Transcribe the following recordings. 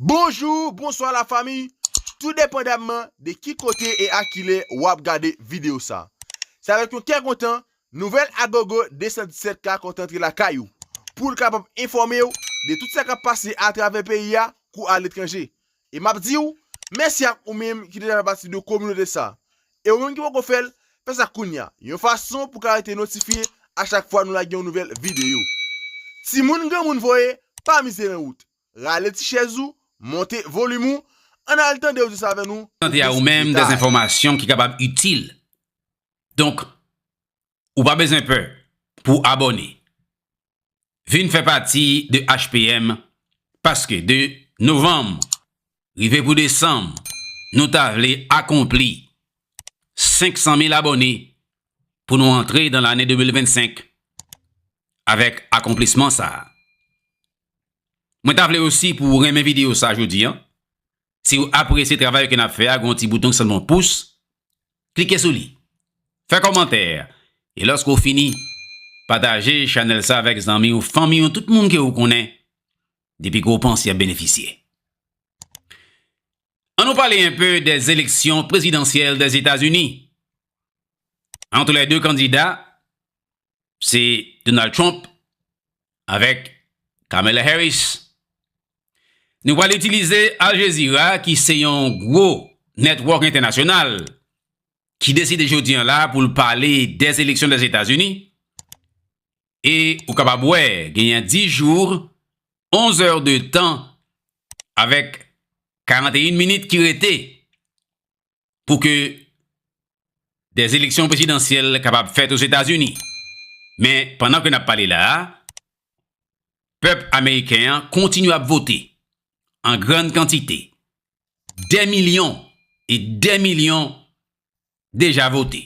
Bonjour, bonsoir la famille, tout depandamman de ki kote e a kilè wap gade video sa. Se avèk yon kè kontan, nouvèl Agogo 217 ka kontan antre lakay ou, poul kapab enfòmew de tout sa kap pase atravè peyi a kou aletranje. E map diw, mèsi ak ou menm ki deja fè pati de kominote sa. E ou menm ki poko fèl, fè sa kounya, yon fason pou ka rete notifye a chak fwa nou lage yon nouvèl video. Timoun granmoun voye, pa mize nan wout. Rale ti chèz ou, monte volim ou, ann al tande odyans avè nou pou Tande a ou plis menm dè detay. enfòmasyon ki kapab itil. Donk, ou pa bezwen pè pou w abòne. Vin fè pati de HPM paske de novanm rive pou desanm nou ta vle akonpli 500 mil abòne pou nou antre dan lane 2025 avèk akonplisman sa a. Mwen ta vle osi pou ou renmen video sa jodi an. Si ou apresye travay ke nap fè a gen yon ti bouton ki sanble yon pous, klike sou li. Fè kòmantè e lòske ou fini pataje chanèl sa avèk zanmi ou, fanmi ou, tout moun ke ou konnen depi ke ou panse yap benefisye. An nou pale enpe de eleksyon prezidansyèl Dèzetazini. Antre lè 2 kandida, se Donald Trump avèk Kamala Harris. Nou pral itilize Al Jazeera ki se yon gwo network entènasyonal ki deside jodi an la pou l pale de eleksyon de Etazini e ou kapab wè genyen 10 jours 11 heures de tan avèk 41 minit ki rete. pou ke des eleksyon prezidansyèl kapab fèt o Zetazini. Men, pandan ke nap pale la a, pèp ameriken an kontinye ap vote an grann kantite. Dè milyon e dè milyon deja vote.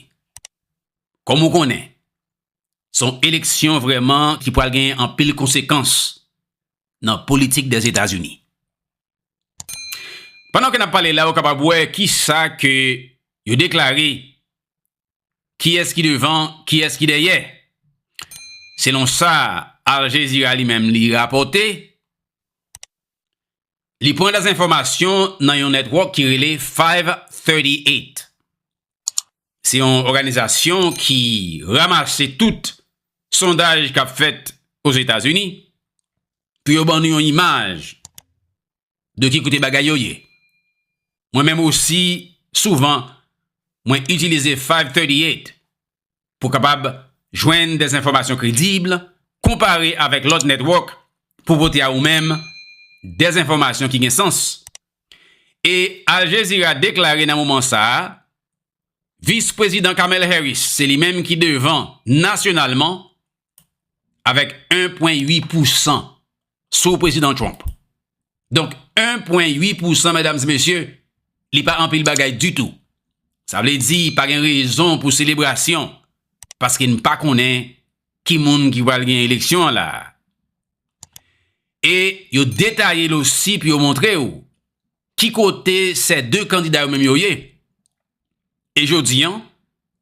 Kòm ou konnen, son eleksyon vrèman ki pral genyen anpil konsekans nan politik des Etazini. Pandan ke n ap pale la ou kapab wè kisa ke yo deklare, kiyès ki devan, kiyès ki dèyè. Selon sa Al Jazeera li menm li rapòte, li pran dè enfòmasyon nan yon netwòk ki rele 538. Se yon òganizasyon ki ramase tout sondaj k ap fèt Ozetazini. pou yo ban nou yon imaj de ki kote bagay yo ye. Mwen menm osi souvan mwen itilize 538 pou kapab jwenn des enfòmasyon kredib, konpare avèk lòt netwòk pou pote a ou menm des enfòmasyon ki gen sans. E Al Jazeera deklare nan moman sa a, Vis Prezidan Kamel Harris se li menm ki devan nasyonalman avèk 1 pwen 8 pou 100 sou prezidan Trump. Donk 1 pwen 8 pou 100 mèdames et mesye, li pa anpil bagay di tou. Sa vle di pa gen rezon pou selebrasyon paske n pa konnen ki moun ki pral gen eleksyon an la. E yo detaye l osi pou yo montre w ki kote sè 2 kandida yo menm yo ye. E jodi an,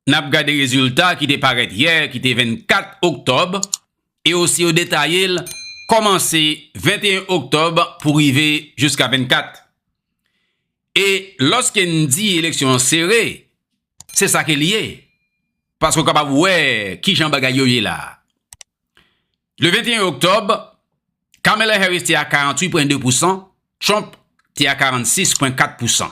n ap gade rezilta ki te parèt yè ki te 24 oktòb e osi yo detaye l kòmanse 21 oktòb pou rive jiska 24. E lòske n di eleksyon an sere, se sa ke li ye, paske w kapab wè kijan bagay yo ye la a. Le 21 oktòb, Kamala Harris te a 48 pwen 2 pousan, Trump te a 46 pwen 4 pousan.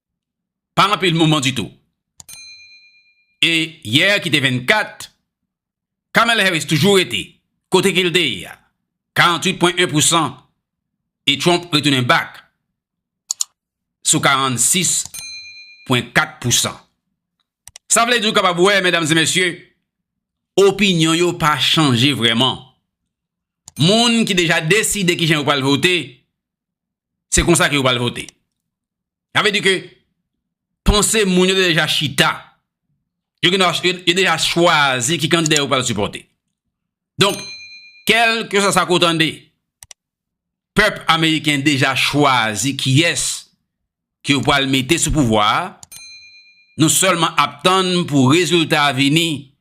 pa anpil moman ditou. E yè ki te 24, Kamala Harris toujou rete kote ke li te ye a, 48,1 pousan e Trump retounen back sou 46,4 pousan. Sa vle di ou kapab wè, medam e mesye, opinyon yo pa chanje vreman. Moun ki deja deside kijan yo pral vote, Se konsa ke yo pral vote. Sa vle di ke panse moun yo te deja chita. Yo gen dwa, yo deja chwazi ki kandida yo pral sipòte. Donk, kèlke swa sa ke w tande, pèp ameriken deja chwazi kiyès ke yo pral mete sou pouvwa a. Nou sèlman ap tann pou rezilta a vini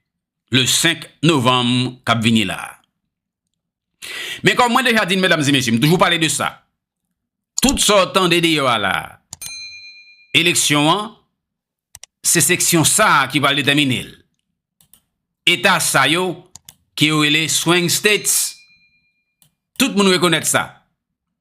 le 5 novanm kap vini la a. Men kòm mwen deja di n medam e mesye, m toujou pale de sa, tout sa w tande deyò a la a, eleksyon an, se seksyon sa a ki pral detèmine l. Eta sa yo, ke yo rele Swing States, tout moun rekonèt sa.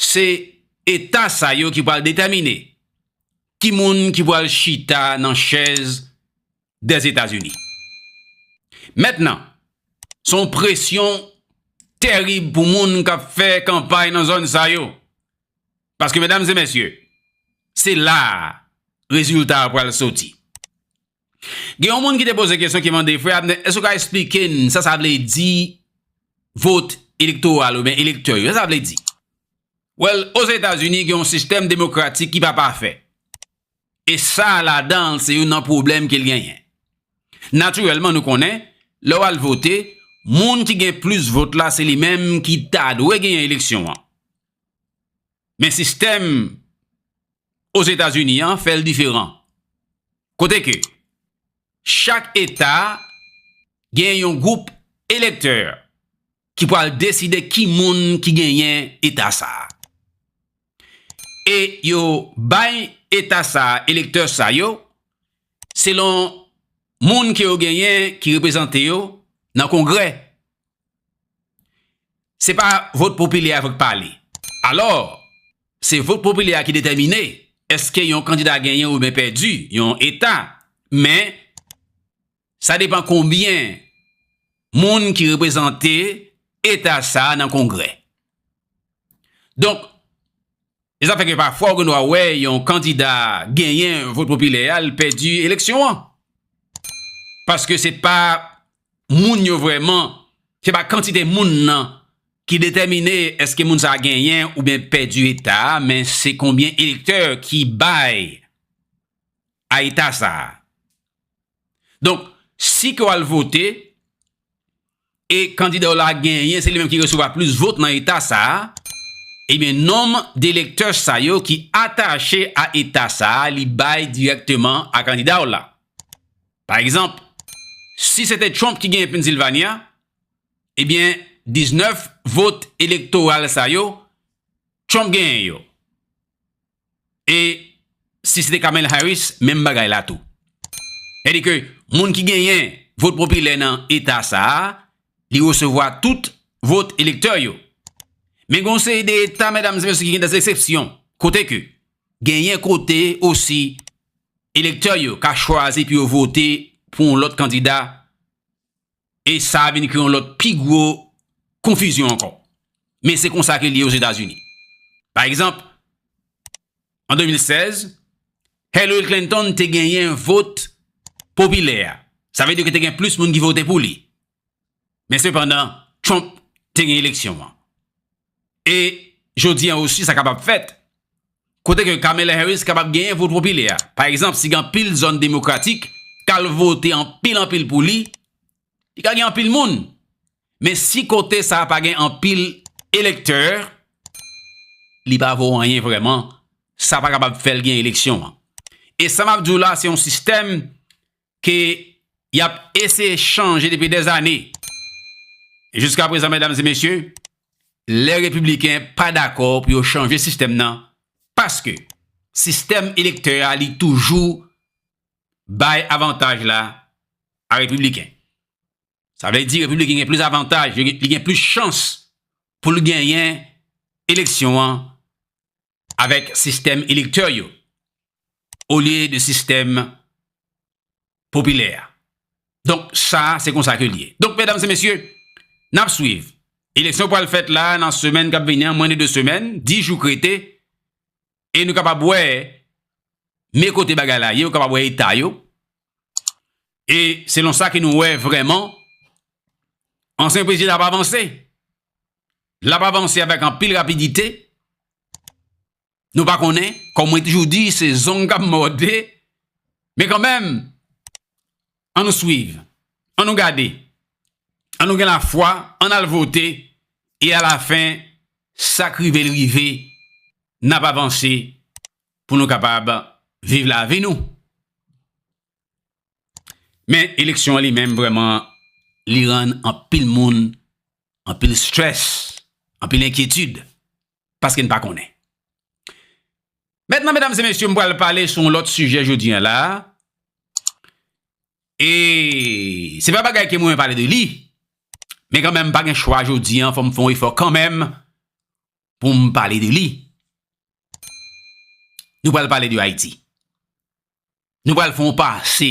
Se eta sa yo ki pral detèmine ki moun ki pral chita nan chèz Dèzetazini. Mèt nan, se yon presyon terib pou moun k ap fè kanpay nan zòn sa yo. Paske medam e mesye, se la a rezilta a pral soti. Gen yon moun ki te poze kesyon ki mande, Frè Abner, èske w ka esplike n sa sa vle di vot elektoral oubyen elektè yo? Sa sa vle di? Wèl, Ozetazini gen yon sistèm demokratik ki pa pafè. E sa ladan l se youn nan pwoblèm ke l genyen. Natirèlman nou konnen, lè w al vote, moun ki gen plis vot la se li menm ki ta dwe genyen eleksyon an. Men sistèm Ozetazini an fè l diferan, kote ke chak eta gen yon gwoup elektè ki pral deside ki moun ki genyen eta sa a. E yo bay eta sa a elektè sa yo selon moun ke yo genyen ki reprezante yo nan kongrè. Se pa vot popilè a fòk pale. Alò, se vot popilè a ki detèmine èske yon kandida genyen oubyen pèdi yon eta. Men, sa depan konbyen moun ki reprezante eta sa a nan Kongrè. Donk, E sa fè ke pafwa ou gen dwa wè yon kandida genyen vot popilè a, li pèdi eleksyon an. Paske se pa moun yo vrèman, se pa kantite moun nan ki detèmine eske moun sa genyen oubyen pèdi eta a, men se konbyen elektè ki bay a eta sa a. Donk, si ke w al vote, e kandida w la genyen, se li menm ki resevwa plis vot nan eta sa a, ebyen nonm de elektè sa yo ki atache a eta sa a, li bay dirèkteman a kandida w la. Pa egzanp, si se te Trump ki genyen Pennsylvania, ebyen 19 vot elektoral sa yo, Trump genyen yo. E si se te Kamel Harris, menm bagay la tou. Sa di ke moun ki genyen vot popilè nan eta sa a, li resevwa tout vot elektè yo. Men gen yon seri de eta, medam e mesye, ki gen dè eksepsyon. Kote ke genyen kote osi elektè yo ka chwazi pou yo vote pou yon lòt kandida E sa vin kreye yon lòt pi gwo konfizyon ankò. Men se konsa ke li ye Ozetazini. Pa egzanp, an 2016, Hillary Clinton te genyen vot popilè a. Sa vle di ke te gen plis moun ki vote pou li. Men sepandan, Trump te gen eleksyon an. E jodi an osi sa kapab fèt, kote ke Kamala Harris kapab genyen vot popilè a. Pa egzanp, si gen anpil zòn demokratik k al vote anpil anpil pou li, li ka gen anpil moun. Men si kote sa a pa gen anpil elektè, li pa vo anyen vrèman, sa pa kapab fè l gen eleksyon an. E sa m ap di w la, se yon sistèm ke y ap eseye chanje depi dè zane. Jiska prezan medam e mesye, lè repibliken pa dakò pou yo chanje sistèm nan, paske sistèm elektè a li toujou bay avantaj la a repibliken. Sa vle di repibliken gen plis avantaj, li gen plis chans pou l genyen eleksyon an avèk sistèm elektè yo olye de sistèm popilè a. Donk sa a se konsa ke l ye. Donk medam se mesye, n ap swiv. Eleksyon pral fèt la a nan semèn k ap vini an, mwen de 2 semèn, 10 jou k rete e nou kapab wè me kote bagay la ye, ou kapab wè eta yo e selon sa ke nou wè vrèman ansyen prezidan ap avanse. l ap avanse avèk anpil rapidite, nou pa konnen, kòm mwen toujou di, se zong k ap mòde, men kanmenm, an nou swiv, an nou gade, an nou gen lafwa, an n al vote, e alafen, sa k rive l rive, n ap avanse pou nou kapab viv lavi nou. Men eleksyon an li menm vreman li rann anpil moun, anpil stress, anpil enkyetid, paske n pa konnen. Mentnan medam se mesye m pral pale sou yon lot sijè jodi an la, e se pa bagay ke m renmen pale de li, men kanmenm m pa gen chwa jodi an fò m fon efò kanmenm pou m pale de li. Nou pral pale de Ayiti. Nou pral fè yon pase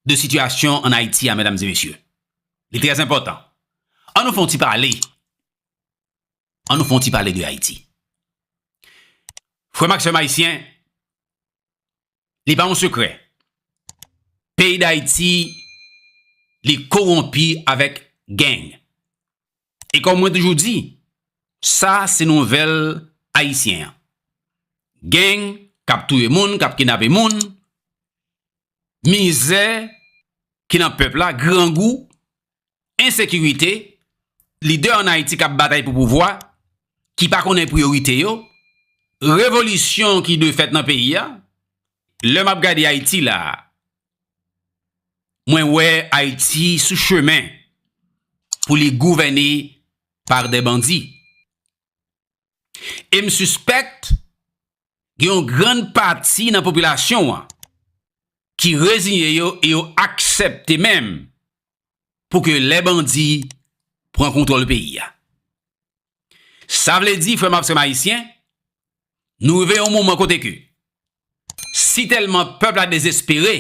de sitiyasyon an Ayiti a, medam e mesye. Li trè enpòtan. An nou fè yon ti pale, an nou fè yon ti pale de Ayiti. Frè m ak sè m ayisyen, li pa yon sekrè, peyi Dayiti li kowonpi avèk geng. E kòm mwen toujou di, sa se nouvèl ayisyen an. Gang k ap touye moun, k ap kidnape moun, mizè ki nan pèp la, grangou, ensekirite, lidè an Ayiti k ap batay pou pouvwa, ki pa konnen priyorite yo, revolisyon ki dwe fèt nan peyi a. Lè m ap gade Ayiti la, Mwen wè Ayiti sou chemen pou li gouvène pa dè bandi. E m sispèk gen yon grann pati nan popilasyon an ki reziye yo e yo aksèpte menm pou ke lè bandi pran kontwòl peyi a. Sa vle di, frè m ak sè m ayisyen, nou rive yon moman kote ke si tèlman pèp la dezespere,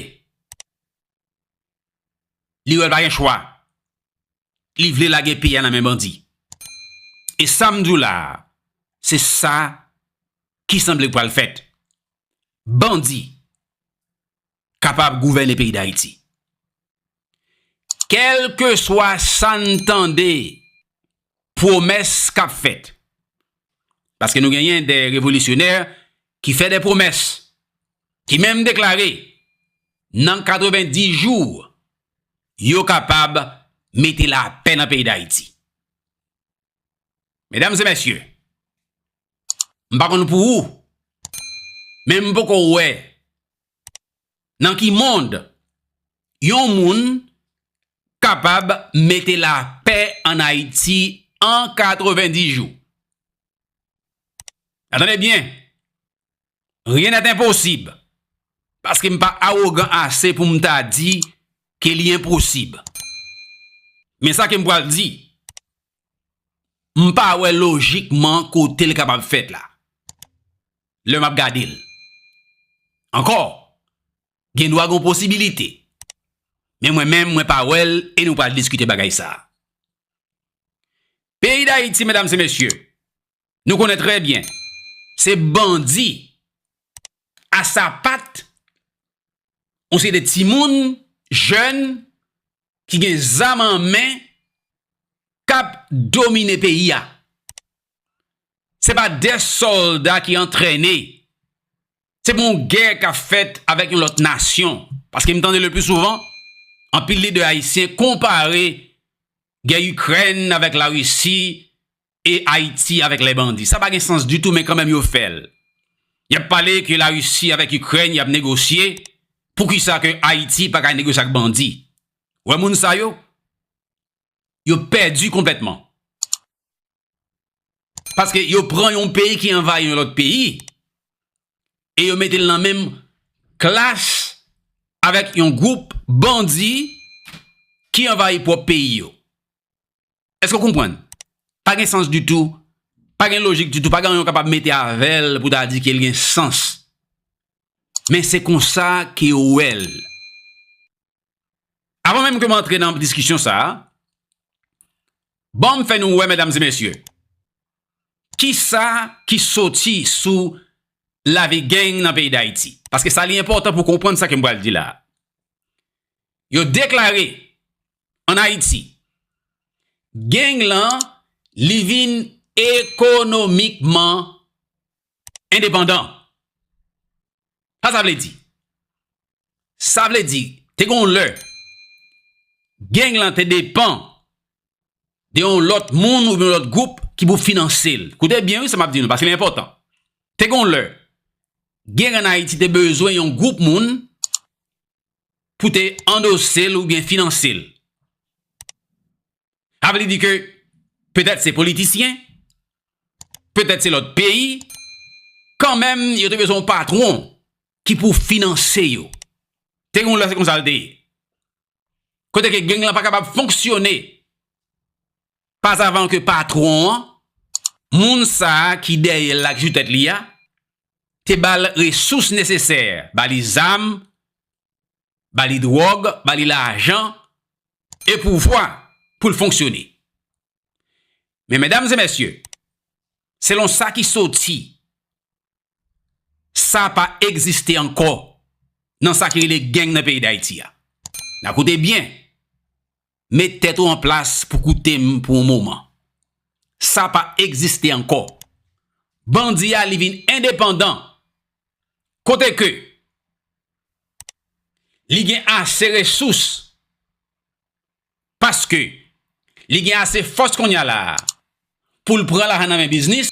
li wè l pa gen chwa, li vle lage peyi a nan men bandi. E sa m di w la a, se sa ki sanble pral fèt. Bandi kapab gouvène peyi Dayiti. Kèlke swa san tande pwomès k ap fèt, paske nou genyen de revolisyonè ki fè de pwomès, ki menm deklare nan 90 jou yo kapab mete lapè nan peyi Dayiti. Medam e mesye, m pa konn pou ou, men m poko wè nan ki mond yon moun kapab mete la pè an Ayiti an 90 jou. Atande byen, Rien n'est impossible. Paske m pa awogan ase pou m ta di ke li enposib. Men sa ke m pral di, m pa wè lojikman kote l kapab fèt la. Lè m ap gade l. Ankò, gen dwa gen yon posibilite. Men mwen menm mwen pa wè l e nou pral diskite bagay sa. Peyi Dayiti, medam se mesye, Nou konnen trè byen, se bandi a sapat, on se de timoun, jèn, ki gen zam an men, kap domine peyi a. Se pa de solda ki antrene, se pou yon gè ka fèt avèk yon lòt nasyon. Paske m tande le pli souvan, anpil lidè ayisyen konpare gè Ikrèn avèk Larisi, e Ayiti avèk lè bandi. Sa pa gen sans ditou men kanmenm yo fè l. Y ap pale ke Larisi avèk Ikrèn y ap negosye, poukisa ke Ayiti pa ka negosye ak bandi? Ou wè moun sa yo? Yo pèdi konplètman. Paske yo pran yon peyi ki anvayi yon lòt peyi e yo mete l nan menm klas avèk yon gwoup bandi ki anvayi pwòp peyi yo. Eske w konprann? Pa gen sans ditou, pa gen lojik ditou, pa gen anyen w kapab mete avè l pou ta di ke l gen sans. Men se konsa ke yo wè l. Avan menm ke m antre nan diskisyon sa a, ban m fè nou wè medam e mesye, kisa ki soti sou lavi geng nan peyi Dayiti. Paske sa li enpòtan pou konprann sa ke m pral di la a. Yo deklare an Ayiti. Geng lan li vin ekonomikman endepandan. Sa sa vle di? Sa vle di te gen yon lè geng lan te depan de yon lòt moun oubyen yon lòt gwoup ki pou finanse l. Koute byen wi sa m ap di nou paske li enpòtan. Te gen yon lè geng an Ayiti te bezwen yon gwoup moun pou te andose l oubyen finanse l. Sa vle di ke petèt se politisyen, petèt se lòt peyi, kan menm yo te bezwen yon patwon ki pou finanse yo. Te gen yon lè se konsa l te ye. Kote ke geng lan pa kapab fonksyone Pas avan ke patwon an, moun sa a ki dèyè l la ki sou tèt li a, te ba l resous nesesè, ba li zam, ba li dwòg, ba li lajan e pouvwa pou l fonksyone. Men medam e mesye, selon sa ki soti sa pa egziste ankò nan sa ki rele gang nan peyi Dayiti a. Na koute byen, met tèt ou an plas pou koute m pou yon moman. Sa pa egziste ankò. Bandi a li vin endepandan kote ke li gen ase resous paske li gen ase fòs kounya la pou l pran lajan nan men biznis.